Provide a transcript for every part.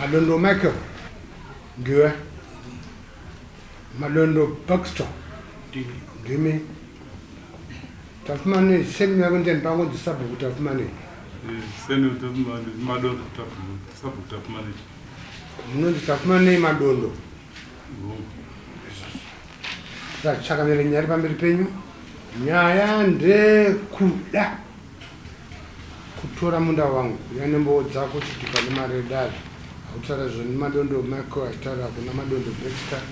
Madondo Michael ndiwe Madondo Baxter ndimi Tafumane semi yako ndiani pangu ndi sabhuku Tafumane eh, semi Tafumane Madondo Tafumane sabhuku Tafumane munonzi Tafumane Madondo Saka chakamira nyari pamberi penyu nyaya ndekuda Kutora munda wangu uya nembowo dzako chitupa nemari yedare hautaura zvo nemadondo Michael aitaura kuna madondo Baxter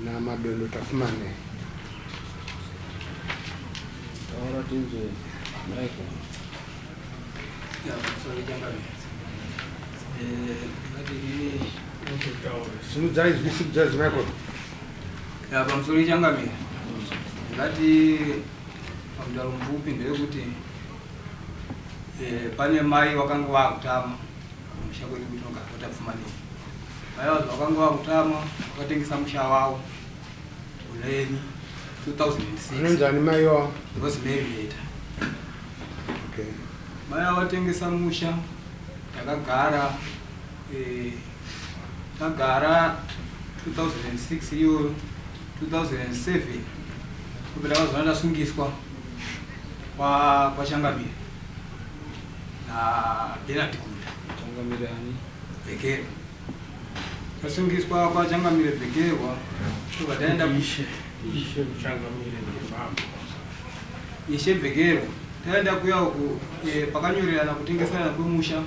namadondo Tafumanei. Taura tinzwe Michael. Simudzai zwi simudzai zwi Michael. Ya pamusoro ichangamira. Ngati Mudaro mupfupi ndewekuti eh, pane mai vakanga vakutama musha kwedu kuti nogakota pfumanei mai vacho vakanga vakutama vakatengisa musha wavo uleni 2006 mai wavo rosemary leta okay. mai avatengesa musha takagara eh, Tagara 2006 iyoyo 2007 kubvira pazuva ndasungiswa kwachangamire nabenard gunda vhekero tasungiswa kwachangamire vhekerwa tobva taenda ishe vhekero taenda kuya uku eh, pakanyorerana kutengeserana kwemusha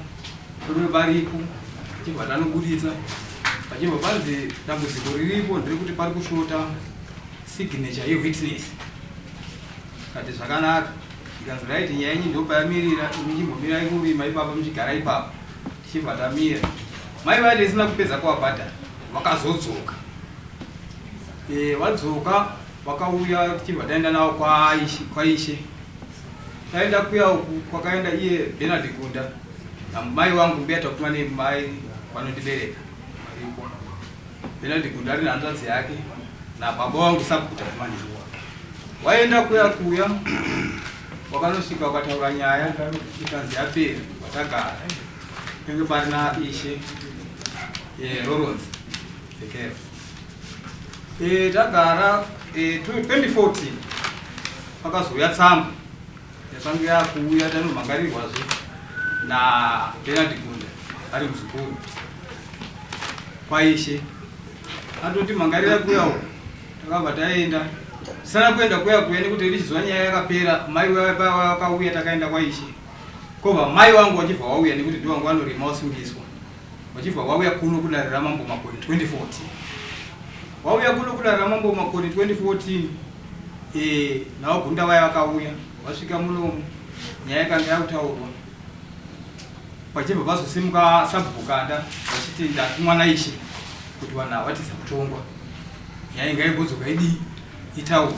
Rume varipo achibva tanoburitsa pachibva panzi dambudziko riripo ndirekuti pari kushota signature yewitness kati zvakanaka ikanzi raiti nyaya yenyu ndopayamirira imi chimbomirai kurima ipapa muchigara ipapa tichibva tamira mai vaiti isina kupedza kwavabhadhara vakazodzoka eh, vadzoka vakauya tichibva taenda navo kwaishe Taenda kuya uku kwakaenda iye Bernard Gunda namai wangu mbuya takuma nemai vanondibereka varipo. Bernard Gunda ari nehanzvadzi yake nababa wangu sabhuku takuma neiwa. Waenda kuya kuya wakanosvika wakataura nyaya ikanzi yapera watagara penge parina ishe eh, Lawrence Eh, tagara 2014 eh, pakazouya tsamba yakange yakuuya tanomhangarirwazve nabenard gunda ari muzukuru kwaishe atoti mhangarira kuyawo takabva taenda tisana kuenda kuya kuya nekuti richizwa nyaya yakapera mai vakauya takaenda kwaishe kobva mai wangu wachibva wauya nekuti ndiwangu vanorima wasungiswa Wachibva wauya kuno kudare ramambo Makoni 2014. Wauya kuno kudare ramambo Makoni 2014 eh nawo gunda vaya vakauya vasvika muno nyaya yakanga yakutaurwa. Pachibva pazosimuka sabhuku kanda vachiti ndatumwa naishe kuti vanhu havatiza kutongwa. Nyaya ingaigozogwa idii? Itawo.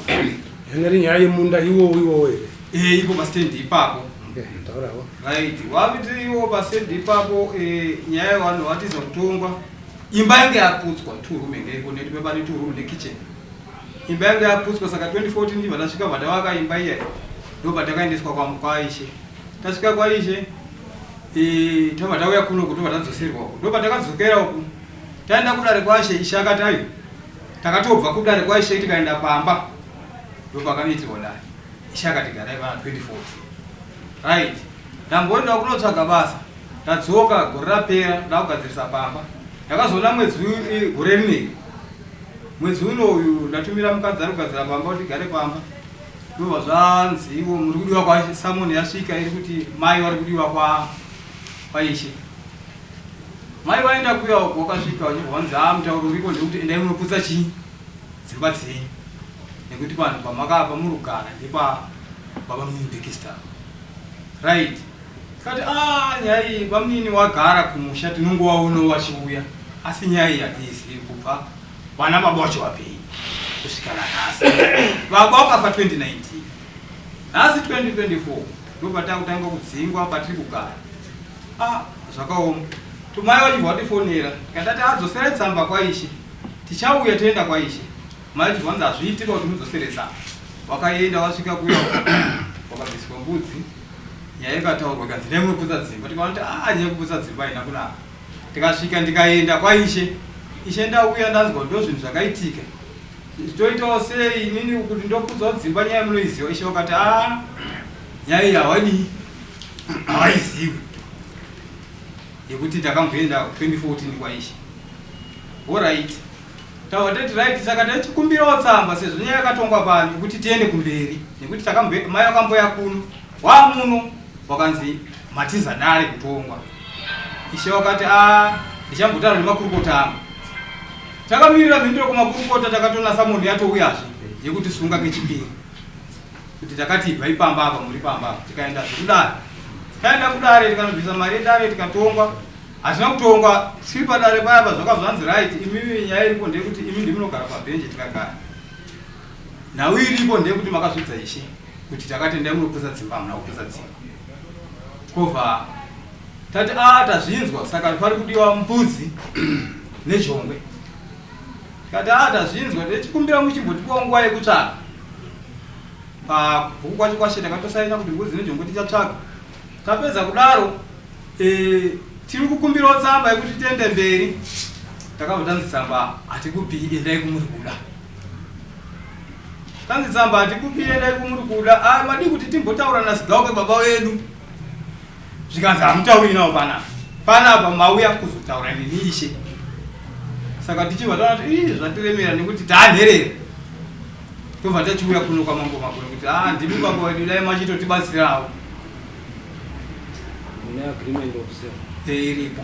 Yanga iri nyaya yemunda iwowo iwowo here? Eh, ipo pastand ipapo. Okay, taurawo. Right. Waviti iwo pastand ipapo eh nyaya yevanhu vatiza kutongwa. Imba yange yaputswa two room ende iko neti baba ne two room ne kitchen. Imba yange yaputswa saka 2014 ndiva ndasvika vadawaka imba iya. Ndoba takaendeswa kwa mukwaishe. Tasvika kwa ishe eh tava tauya kuno kuti vadzoserwa. Ndoba takadzokera uku. Taenda kudare kwashe ishe akatayo. Takatobva kudare kwaishe tikaenda pamba ndopakanoitirwa dare. Ishe akati garai vana 24 right ndamboenda kunotsvaga basa ndadzoka gore rapera ndakugadzirisa pamba ndakazoona mwedzi gore rinei mwedzi uno uyu ndatumira mukadzi ari kugadzira pamba kuti gare pamba ndova zvanzi ivo muri kudiwa kwasamoni yasvika iri kuti mai vari kudiwa kwaishe Mai vaenda kuya uko wakasvika wanyurwa hanzi haa mutauro uriko ndekuti endai munoputsa chii dzimba dzenyu nekuti panhu pamakapa murugara ndepa baba munini bikistar right kati ah nyaya iyi bamunini wagara kumusha tinongovaonawo vachiuya asi nyaya iyi hatiizivi kubva vana baba wacho vapei kusvika nanhasi baba wakafa 2019 nhasi 2024 ndopatakutanga kudzingwa patiri kugara Ah, zvakaoma. Tumai vachibva vatifonera. Tikatati adzosere tsamba kwaishe. Tichauya toenda kwaishe. Mai vachibva vanzi hazviitike kuti mudzosere tsamba. Vakaenda vasvika kuya vakabviswa mbudzi. Nyaya ikataurwa ikanzi nemwe kuputsa dzimba. Tikaona kuti ah nyaya kuputsa dzimba haina kunaka. Tikasvika ndikaenda kwaishe. Ishe ndauya ndanzwa ndo zvinhu zvakaitika. Toitawo sei inini kuti ndokudzwa dzimba nyaya munoiziva. Ishe vakati ah nyaya iyi hawadii. Haizivi yekuti takamboenda 2014 kwaishe. Alright. Tawa tati right saka tachikumbirawo tsamba sezvo nyaya yakatongwa pano yekuti tiende kumberi nekuti takamboenda mai vakamboya kuno wamuno wakanzi matiza dare kutongwa. Ishe wakati ah ndichambotaura nemakurukota angu. Takamirira mhinduro kumakurukota takatonasa munhu yatouyazve yekuti sunga kechipiri. kuti takati ibvai pamba apa muri pamba apa tikaenda zvekudare tikaenda kudare tikanobvisa mari yedare tikatongwa hazvina kutongwa tiri padare paya pa zvakabva zvanzi right imimi nyaya iripo ndeyekuti imi ndimunogara pabhenje tikagara nhau iripo ndeyekuti makazvidza ishe kuti takatendai munopesa dzimba hamuna kupesa dzimba kovha tati a ah, tazvinzwa saka pari kudiwa mbudzi nejongwe tikati a ah, tazvinzwa tichikumbira muchimbotipawo nguva yekutsvaka Pabhuku kwacho kwashe takatosaina kuti ngozi nejongo tichatsvaga. Tapedza kudaro eh, tiri kukumbirawo tsamba yekuti tiende mberi. Takabva tanzi tsamba hatikupi endai kumuri kuda. Tanzi tsamba hatikupi endai kumuri kuda. Ah, madii kuti timbotaura nasigauke baba wedu. zvikanzi hamutauri nawo panapa panapa mauya kuzotaura neni ishe saka tichibva taona kuti ii zvatiremera nekuti taanherera tobva tachiuya kuno kwamambo makuru kuti a ah, ndimi baba wedu dai machitotibatsirawo eh, iripo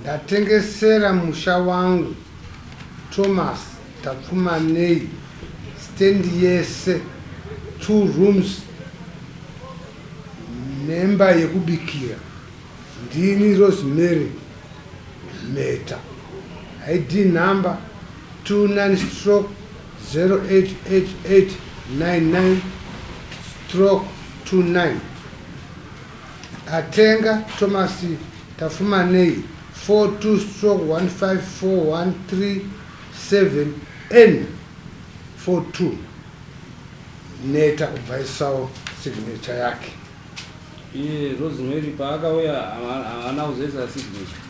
Ndatengesera musha wangu Thomas Tapfumanei stand yese two rooms nemba yekubikira ndini Rosemary Mheta ID number 29 stroke 088899 stroke 29 Atenga Thomas Tafumanei 42-154-137N42 Neta kubvaisawo signature yake. Iye Rosemary paakauya haana kuzoisa signature.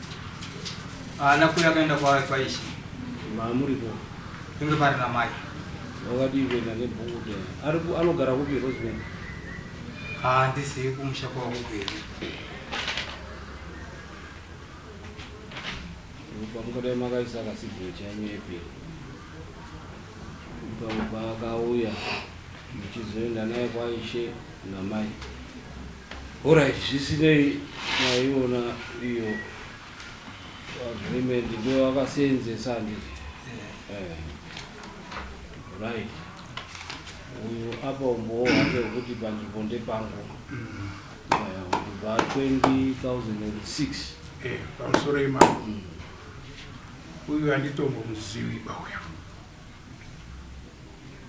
Haana kuuya akaenda kwaishe. Mamuripo. Inge pari namai. Wakadii kuenda nebhuku. Anogara kupi Rosemary? Haa ndizivi kumusha kwavo kwedu. Pamungadai makaisa kasidhiro chanyu epi pamwe paakauya muchizoenda naye kwaishe namai orit zvisinei maiona iyo agreement ndo akaseenzesa handiti eh. eh. right uyo apa umbowo hwake hwekuti panzvimbo ndepangu kubva 2006 eh, pamusoro yemambo mm. uyu handitombomuzivi bauya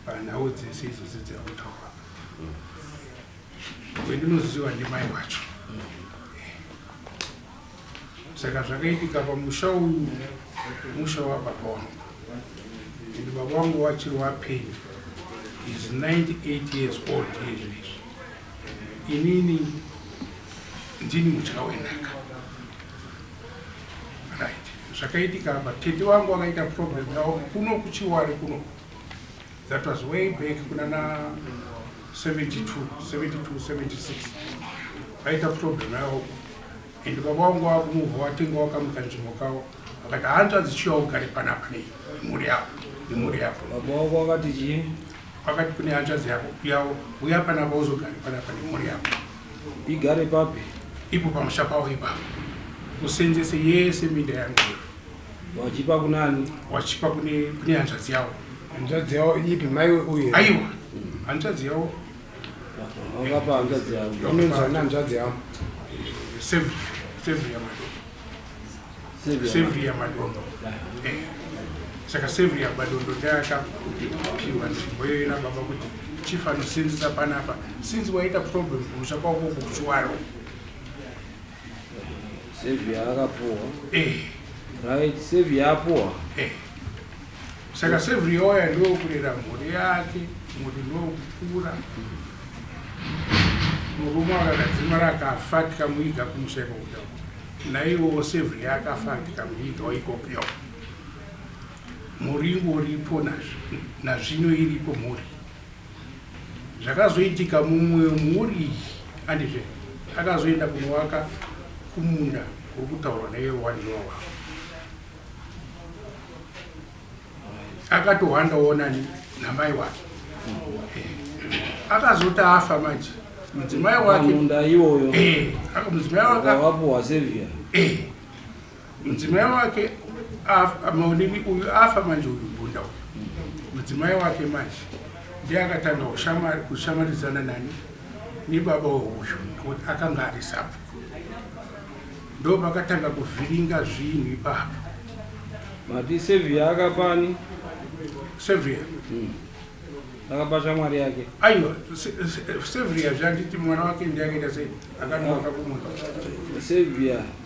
panhau dzese idzodzi dziri kutaura mm. wendinoziva ndimai wacho mm. Saka zvakaitika pamusha uyu musha wababa wangu and baba wangu vachiri vapenyu is 98 years old izvezvi inini ndini mutya wenhaka right zvakaitika apa tete wangu akaita problem yavo kuno kuchiwari kunoku That was way back kunana 72, 72, 76. Vaita problem yavo. And baba wangu wakumuvha watenga wakamuka nzvimbo kavo. Vakati hanzvadzi chiya ugare panapa nei nemhuri yako nemhuri yako. Baba wangu wakati chii? Vakati kune hanzvadzi yako yavo uya panapa uzogare panapa nemhuri yako. Igare papi? Ipo pamusha pavo ipapo. Musenzese yese minda yangu. Wachipa kunani? Wachipa kune kune hanzvadzi yawo. Hanzvadzi yawo ipi mai uye? Aiwa. Hanzvadzi yawo. Wakapa hanzvadzi yawo. Unonzi ana hanzvadzi yawo. Save save ya madondo. Save ya save ya madondo. Eh. Saka save ya madondo ndaka piwa nzvimbo yoyo na baba kuti chief anosinzisa panapa since waita problem kumusha kwako kuchiwaro. Savior akapuwa. Eh. Right, Savior apuwa. Eh. Saka Savior waya ndio kulera mhuri yake, mhuri ndio kukura. Murume akagadzima rakafa tikamuiga kumusha ikoko. Naiwo Savior yakafa tikamuiga ikoko. Mhuri ingoripo nazvino iripo mhuri. Zvakazoitika mumwe mhuri andizve akazoenda kunovaka kumunda kuri kutaurwa newaniwa wavo akatohandawo nani namai wake eh, akazoti afa manje mudzimai wake munda iwoyo eh, mudzimai wake wapuwa sevia eh. Mudzimai wake afa maonini uyu afa manje uyu mbunda uyu. Mudzimai wake manje ndiye akatanga kushamari kushamaridzana nani nebaba weuyu nokuti akanga ari sabhuku. Ndo pakatanga kuvhiringa zvinhu ipapo. Mati Sevia akapani? Sevia. Mm. Akapa shamwari yake. Aiwa, Sevia zvanditi mwana wake ndiye akaita sei? Akananga kumunda. Sevia.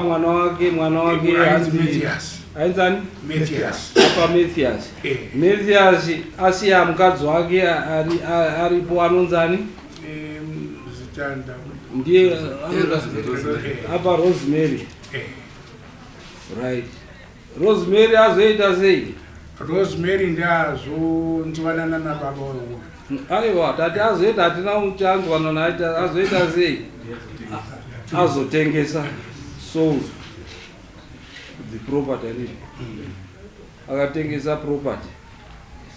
mwana wake mwana wake aenzani apa mathias eh. mathias asiya mukadzi wake aripo anonzani ndiye apa rosemary eh. Right. Rosemary azoita sei? Rosemary ndazonzwanana na baba uyu. Aiwa, tati azoita hatina uchanzwana naye azoita sei? Azotengesa soul the property ani. Akatengesa property.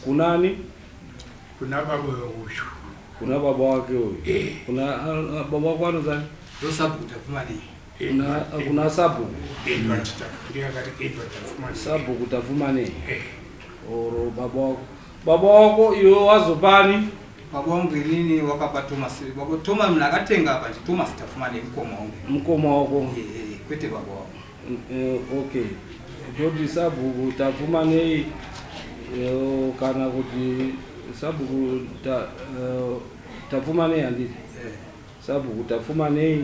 Kunani? Kuna baba uyu. Kuna baba wake uyu. Eh. Kuna ah, ah, baba wako anozani? Ndosabuda kumani. Kuna, kuna sabhuku Edward Tafu- ndiye akati Edward Tafumani. sabhuku tafumane Eh, oro baba wako baba wako iwe wazopani baba wangu inini wakapa thomas baba thomas mna akatenga apa nje thomas tafumane mkoma wangu mkoma wako Eh, eh, kwete baba wangu Eh, okay toti sabhuku tafumanei eh, kana kuti sabhuku ta, eh, tafumanei handiti Eh. sabhuku tafumanei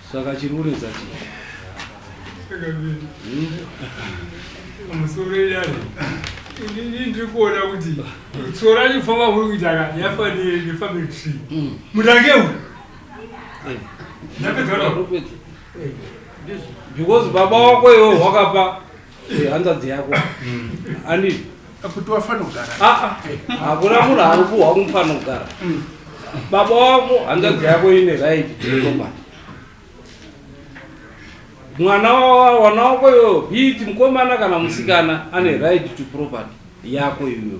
Saka chiri kunetsa chii? Musoro idari ini ndiri kuona kuti tsoro racho famba kuri kuita ka yafa nefamily tree mm. mutange uyu eh. ndapedza eh. because baba wako iwe wakapa Eh, hanzvadzi yako ani kuti wafana kugara aa hakuna munhu ari kuhwa kumufana kugara baba wako hanzvadzi yako ine right jehovha mwana wa- wana wako iyoyo hiiti mukomana kana musikana ane right to property yako iyoyo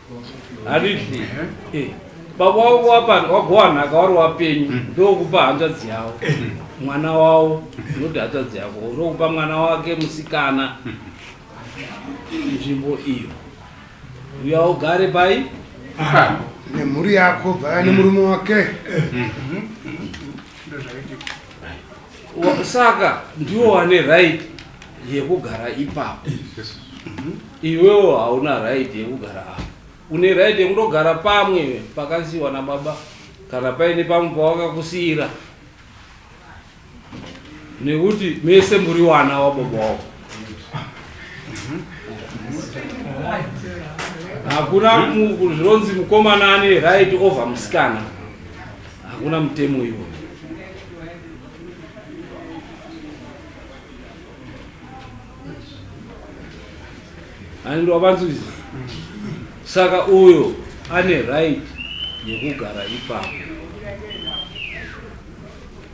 Harihle. Eh. Baba wako wapanda wagowa nhaka wari wapenyu mm. ndokupa hanzvadzi yavo eh. mwana wavo unoti hanzvadzi yako ndokupa mwana wake musikana mm. nzvimbo iyo uya ugare pai nemhuri yako bvaya nemurume wake mm. saka ndiwo wane right yekugara ipapo iwewo hauna right yekugara apa une right yekundogara pamwe pakasiiwa nababa kana paine pamwe pawakakusiira nekuti mese muri wana wababa wavo hakuna mu- zvinonzi mukomana ane right over musikana hakuna mutemo iwo handiro vanzwisa saka uyo ane right yekugara ipapo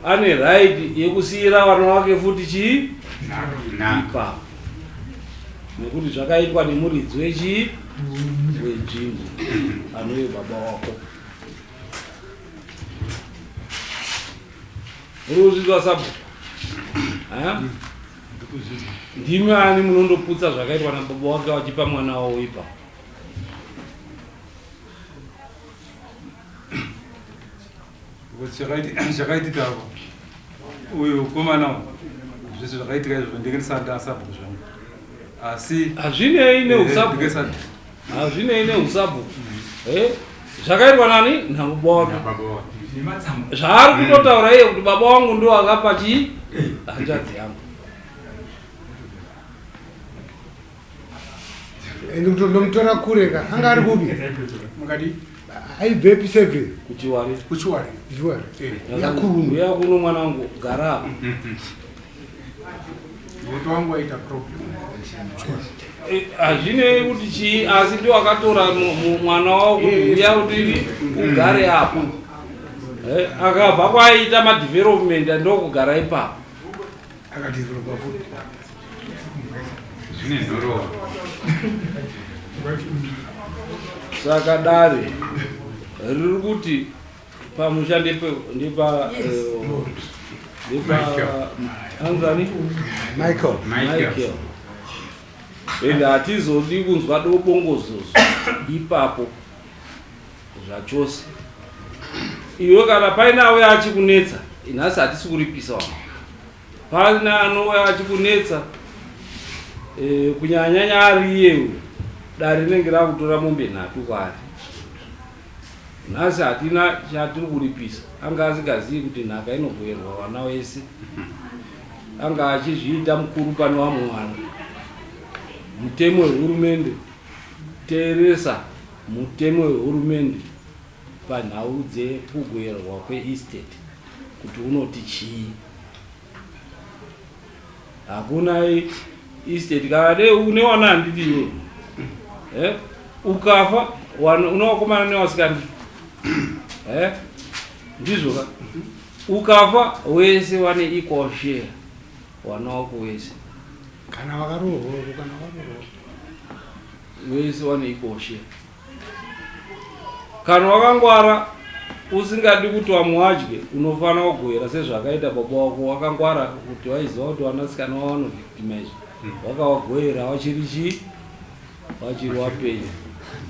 ane right yekusiyira vana wake futi chii ipapo nekuti zvakaitwa nemuridzi wechii wenzvimbo anoyo baba wako Muri kuzvinzwa sabhuku? Ndimi ani munondoputsa zvakaitwa nababa wake wachipa mwana wawo ipa. Zvakaitika avo uyu komana zvese zvakaitika izvo ndenge ndisati asabhuku zvangu asi hazvinei neusabhuku Hazvinei neusabvu. Eh? Zvakaitwa nani? Nababa wake. Zvaari kutotaura iye kuti baba wangu ndiwo akapa chii? Hanzvadzi yangu. Ende kuti ndomutora kure ka. Anga ari kupi? Mukadi. Aibvepi seve? Kuchiwari. Kuchiwari. Kuchiwari. Yakurumu. Yakurumu mwanangu gara. Moto wangu waita problem. Eh, hazvinei kuti chii asi ndi wakatora mwana wavo kuuya kuti ugare apo eh, akabva kwaiita madevelopment ndokugara ipapo saka dare riri kuti Pamusha ndipo ndipo ndipo Anthony Michael Michael. And hatizodi kunzwa dobongozozo ipapo zvachose. Iwe kana paine auya achikunetsa nhasi hatisi kuripisa wama. Paine anouya achikunetsa eh, kunyanyanya ari iye uyo dare rinenge rakutora mombe nhatu kwaari. Nhasi hatina chatiri kuripisa. Anga asingazivi kuti nhaka inogoverwa vana vese. Anga achizviita mukuru pane vamwe vana. Mutemo wehurumende, teeresa mutemo wehurumende panhau dzekugoverwa kweestate kuti unoti chii. hakuna estate kana dei une wana handiti iwe eh? ukafa une wakomana newasikana eh? ndizvo ka ukafa wese wane equal share wana wako wese kana wakarohoro kana wakarohoro wese wane equal share Kana wakangwara usingadi kuti vamwe vadye unofanira kugohera sezvakaita baba wako wakangwara kuti waiziva kuti vanasikana wavo vanovictimize hmm. wakavagohera wachiri chii wachiri wapenyu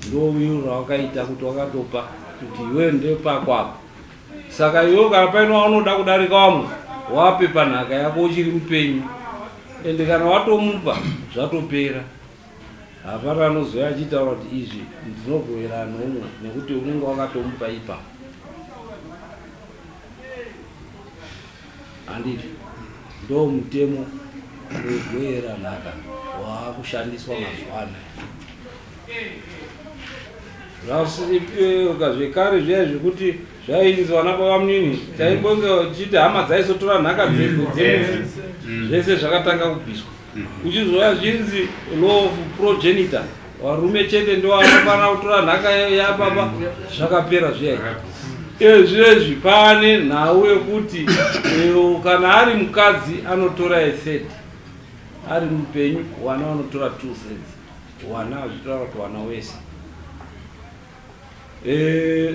ndo viro rawakaita kuti wakatopa kuti iwe ndepako apa saka iwe kana paine waunoda kudarika wamwe wape panhaka yako uchiri mupenyu ende kana watomupa zvatopera Hapana anozouya achitaura kuti izvi ndinogoverana noumwe nekuti unenge wakatomupa ipapo. Handiti ndoo mutemo wegoera nhaka waakushandiswa mazuva ano. Zvasiripoka zvekare zviya zvekuti zvainzi vana babamunini chaimbonge chichiti hama dzaisotora nhaka dzedu dzemene zvese zvakatanga kubviswa. Uchizouya zvinzi law of progenitor varume chete ndovanofanira kutora nhaka yapapa zvakapera zviya ezvezvi pane nhau yekuti kana ari mukadzi anotora ethird ari mupenyu wana vanotora two thirds wana azvitaura kuti wana wese eh,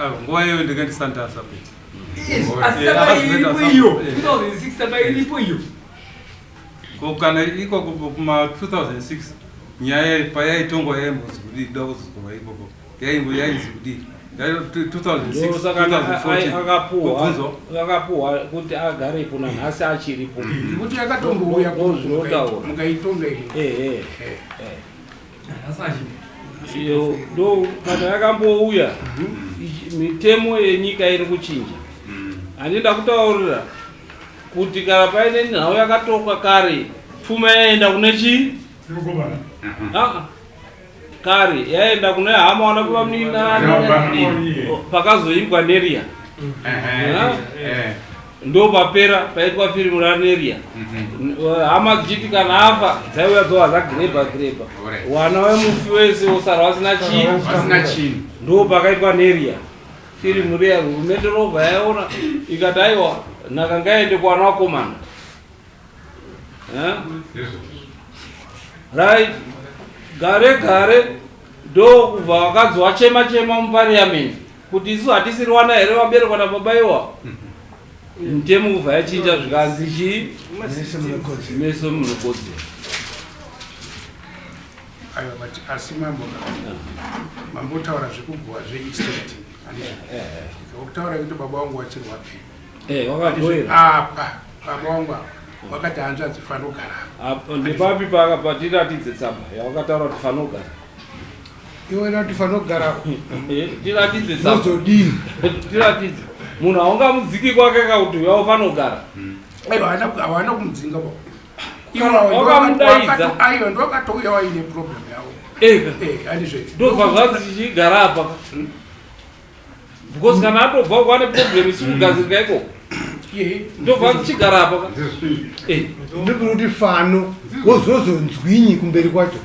Ah, nguva iyoyo ndinge ndisandasa kuti ko kana ikoko kuma 2006 nyaya payaitongwa yaimbozi kudii kuda kuzozogova ikoko yaingo yainzi kudii akapuhwa kuti agarepo nanhasi achiripo nekuti yakatombouya kuzvinotaura mukaitonga ii iyo ndo kana yakambouya mitemo yenyika iri kuchinja handii ndakutaurira kuti kana paine nhau yakatokwa kare pfuma yaenda kune chii Aa, kare yaenda kune hama wana kuvamuninana pakazoimbwa neriya Ehe, ehe. ndopapera paitwa firimu raneria hama dzichiti kana afa dzaiuya dzova zagireba gireba wana wemufi wese wosara wasina chii ndo pakaitwa neria firimu riya hurumende robva yaona ikati aiwa nhaka ngaende kuwana wakomana right gare gare ndokubva vakadzi wachema chema mupariamendi Kuti isu hatisiri wana here vaberekwa nababa iwa mutemo ubva yachinja zvikanzi chii meso munokodzera aiwa but asi mambo mambo utaura zvekuguha zveestate ukutaura kuti baba wangu wachirwa pii apa baba wangu apa wakati hanzvadzi fanogara nepapi paakapatiratidze tsamba yawakataura kuti fanogara iwe nati fanogara tiratidze zozodini tiratidze munhu haungamudziki kwake kauti uyavo fanogara hmm. aiwa hawana kumudzinga kwako iwakamudaidzaaiwa ndokatouya waine problem yavo eh, eh, andizvei ndobva zvanzi chichigara apa hmm. because kana atobva kwane problem isikugadzirika ikoko ndobva ndichigara apa eh. ndikuti kuti fano wozozonzwinyi kumberi kwacho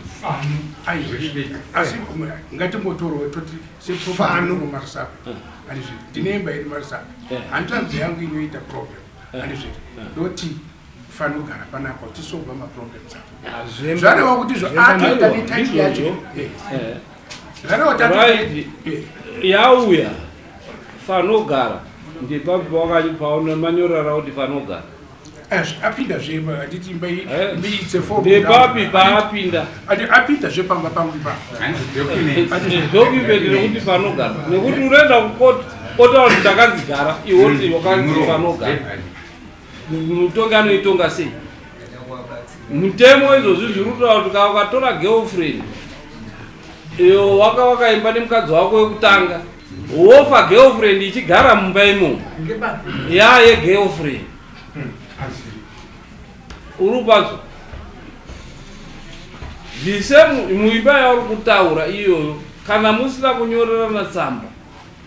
ngatimbotorwa toti sefano marisapi andizviri ndine imba iri marisapi eh. handitanzi yangu inoita problem eh. andizviri ndoti fano gara panapa uchisolva maproblems apo zvarewa kuti zvoatoita netaiti yacho Right. yauya fanogara ndipapi pawakanyi- paona manyorara kuti fanogara apinda zve handiti imba iyi- Eh. imba iyi it's a four room ndepapi house. paapinda Ati apinda zve pamba pangu ipapo Hanzi document. ndokumbeti nekuti panogara nekuti unoenda kukoti otaura kuti ndakazigara iwoti wakanzi panogara Mutongi anoitonga sei? Mutemo izvozvi zviri kutaura kuti kana ukatora girlfriend iyo waka wakaimba nemukadzi wako wekutanga wofa girlfriend ichigara mumba imomo ya yegirlfriend uri upazo zvise muimba yauri kutaura iyoyo kana musina kunyorerana tsamba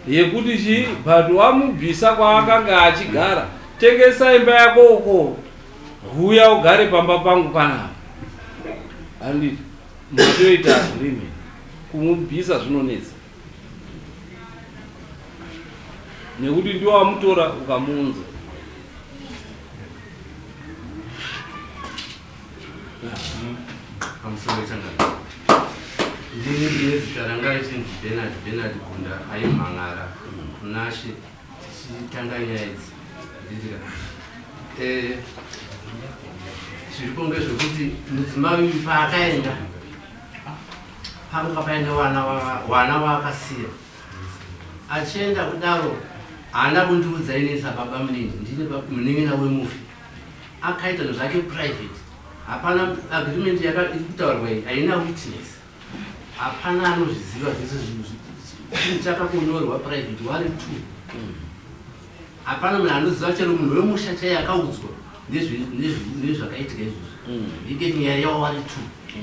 Yekuti chii but wamubvisa kwaakanga achigara tengesa imba yako uko huya ugare pamba pangu panapa handiti matoita agreement kumubvisa zvinonetsa nekuti ndiwo wamutora ukamuunza ndini ndine zita ranga richinzi benard benard gunda aimhan'ara kunashe tichitanga nyaya idzi nditika eh, zviripo ngezvekuti mudzimai uyu paakaenda panga paine wana waakasiya achienda kudaro haana kundiudza inisa baba munini ndine munin'ina wemufi akaita zvake private hapana agreement yakutaurwa iyi haina witness hapana anozviziva zvese zvinhu chinhu chakakonyorwa private wari two hapana munhu anoziva chero munhu wemusha chaiye akaudzwa nezvakaitika izvozvo mm. iketi nyaya yavo wari two mm.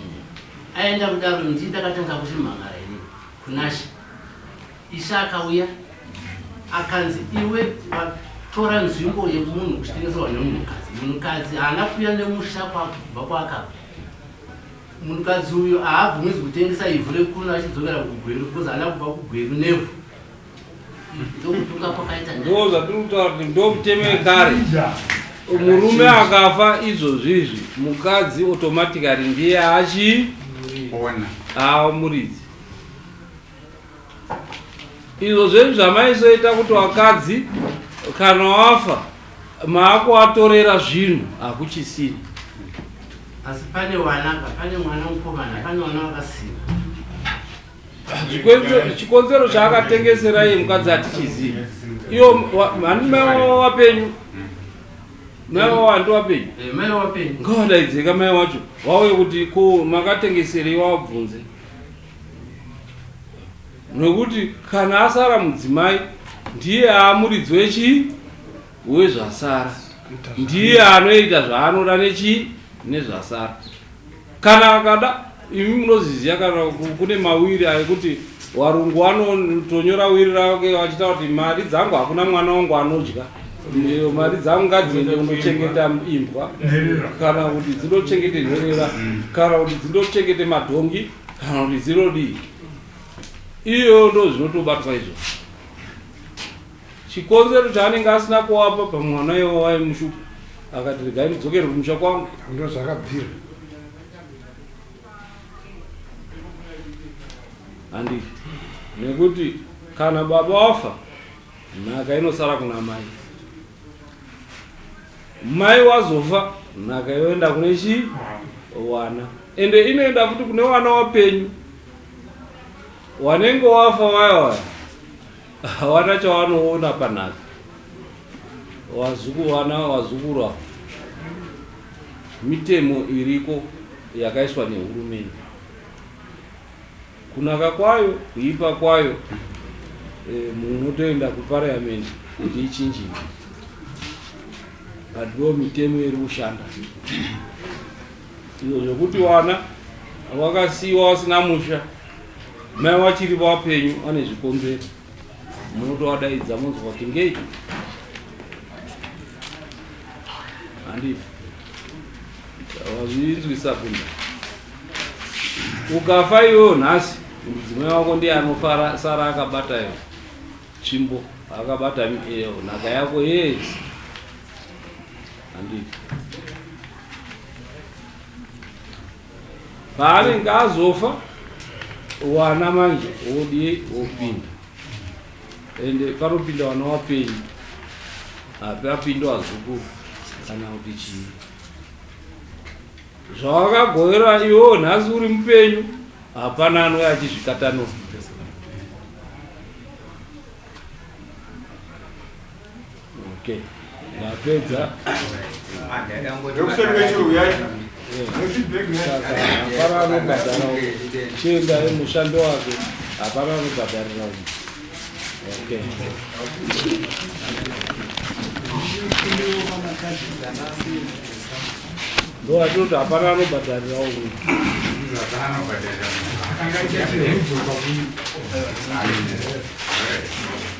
aenda kudaro ndii ndakatanga kuchimhangara ini kunasha Ishe akauya akanzi iwe watora nzvimbo yemunhu kuchitengeserwa nemunhukadzi. Munhukadzi haana kuuya nemusha kwakubva kwaka munhukadzi uyo haabvumizi kutengesa ivhu rekuno achidzokera kugweru because haana kubva kugweru nevhu ndokutunga kwakaita ndo zvatiri kutaura kuti ndo mutemo wekare murume akafa izvozvi izvi mukadzi automatically ndiye achi ona aamuridzi Izvo zvenyu zvamaisoita kuti vakadzi kana wafa maakuvatorera zvinhu hakuchisina. Asi pane wana apa, pane mwana mukomana, pane wana wakasina. Chikonzero- Chikonzero chaakatengesera iye mukadzi hatichizivi. Iyo wa- mhani mai wavo wapenyu. Mai wavo handi wapenyu. Eh, mai wapenyu. Ngawadaidzeka mai wacho vauye kuti ko makatengeserei wabvunze. Nokuti kana asara mudzimai ndiye aamuridzi wechii wezvasara, ndiye anoita zvaanoda nechii nezvasara. Kana akada, imi munozviziva kana kune mawiri ekuti warungu wanotonyora wiri rake achitaura kuti mari dzangu hakuna mwana wangu anodya. Ndiyo mari dzangu ngadziende kundochengeta imbwa kana kuti dzindochengete nherera kana kuti dzindochengete madhongi kana kuti dzinodii iyo ndo zvinotobatwa izvo chikonzero chaanenge asina kuwapa pamwe mwana iwo waimushupa akati regai ndidzokere kumusha kwangu ndo zvakabvira handi nekuti kana baba wafa Nhaka inosara kuna mai. Mai wazofa nhaka yoenda kune chi wana ende inoenda futi kune wana wapenyu wanenge wafa waya waya hawana chawanoona panhaka wazuku wana wazukuru avo mitemo iriko yakaiswa nehurumende Kunaka kwayo, kuipa kwayo eh, munhu unotoenda kuparliament kuti ichinjini but ndo mitemo iri kushanda izvo zvokuti wana wakasiiwa wasina musha mai wachiri vapenyu ane zvikonzero munotovadaidza monzwa kuti ngei handifi Wazvinzwi sabunda. Ukafa iwewe nhasi mudzimai wako ndiye anofara sara akabata yo. Chimbo akabata eh, nhaka yako yes. Andii. paanenge azofa wana manje wodii wopinda ende panopinda wana wapenyu api apinda wazukuru kana kuti chii zvawakagovera iwewo nhasi uri mupenyu hapana anouya achizvikatanura Okay. Napedza. Hapana anobhadhara chienda mushando wake hapana anobhadharira okay. ndo atoti hapana anobhadharira uyu Thank you.